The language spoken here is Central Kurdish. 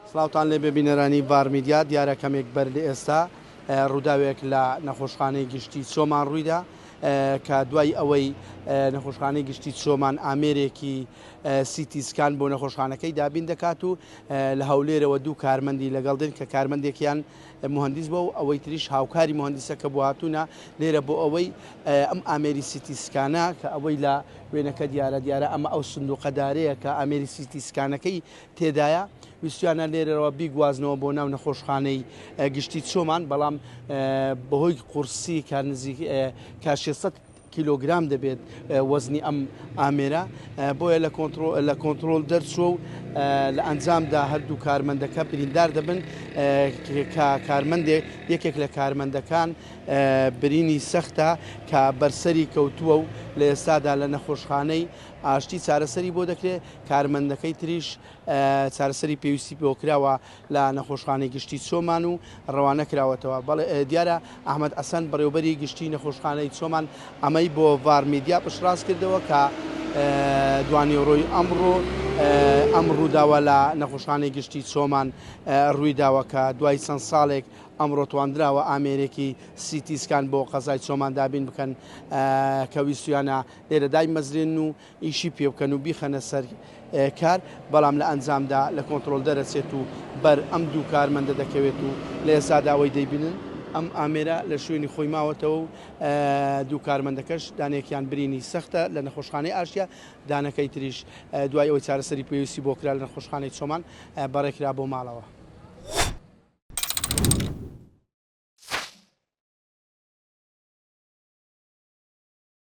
سڵاوتان لێبێ بینەرانی بار میدیا، دیارە کەمێک بەر لە ئێستا ڕووداوێک لە نەخۆشخانەی گشتی چۆمان ڕوویدا کە دوای ئەوەی نەخۆشخانەی گشتی چۆمان ئامێرێکی سیتی سکان بۆ نەخۆشخانەکەی دابین دەکات و لە هەولێرەوە دوو کارمەندی لەگەڵ دێن کە کارمەندێکیان مهندیس بۆ و ئەوەی تریش هاوکاری مهندیسەکە بۆ هاتوونە لێرە بۆ ئەوەی ئەم ئامێری سیتی سکانە کە ئەوەی لە وێنەکە دیارە دیارە ئەمە ئەو سندوقەدارەیە کە ئامێری سیتی سکانەکەی تێدایە، ویستویانە لێرەوە بیگوازنەوە بۆ ناو نەخۆشخانەی گشتی چۆمان، بەڵام بەهۆی قورسی کە نزیک کاشی سەد کیلۆگرام دەبێت وەزنی ئەم ئامێرە بۆیە لە کۆنتترۆل دەرچوە و لە ئەنجامدا هەردوو کارمەندەکە بریندار دەبن کە کارمەندێک یەکێک لە کارمەندەکان برینی سەختە کە بەرسەری کەوتووە و لە ئێستادا لە نەخۆشخانەی ئاشتی چارەسەری بۆ دەکرێت کارمەندەکەی تریش چارەسەری پێویستی پێوە کراوە لە نەخۆشخانەی گشتی چۆمان و ڕەوانە کراوەتەوە بەڵێ دیارە ئەحمد ئەسەن بەڕێوبەری گشتی نەخۆشخانەی چۆمان ئەمەی بۆ ڤار میدیا پشتڕاست کردەوە کە دوانیۆرۆی ئەمڕۆ ئەم ڕووداوە لە نەخۆشخانەی گشتی چۆمان ڕووی داوە کە دوای چەند ساڵێک ئەمڕۆ تواندراوە ئامێرێکی سیتیسکان بۆ قەزای چۆمان دابین بکەن کە ویستویانە لێرە دای مەزرێن و ئیشی پێ بکەن و بیخەنە سەر کار، بەڵام لە ئەنجامدا لە کۆنتڕۆڵ دەرەچێت و بەر ئەم دوو کارمەندە دەکەوێت و لە ئێستادا ئەوەی دەیبینن، ئەم ئامێرە لە شوێنی خۆی ماوەتەوە و دوو کارمەندەکەش دانەیەکیان برینی سەختە لە نەخۆشخانەی ئاشتیا، دانەکەی تریش دوای ئەوەی چارەسەری پێویستی بۆ کرا لە نەخۆشخانەی چۆمان بەڕێکرا بۆ ماڵەوە.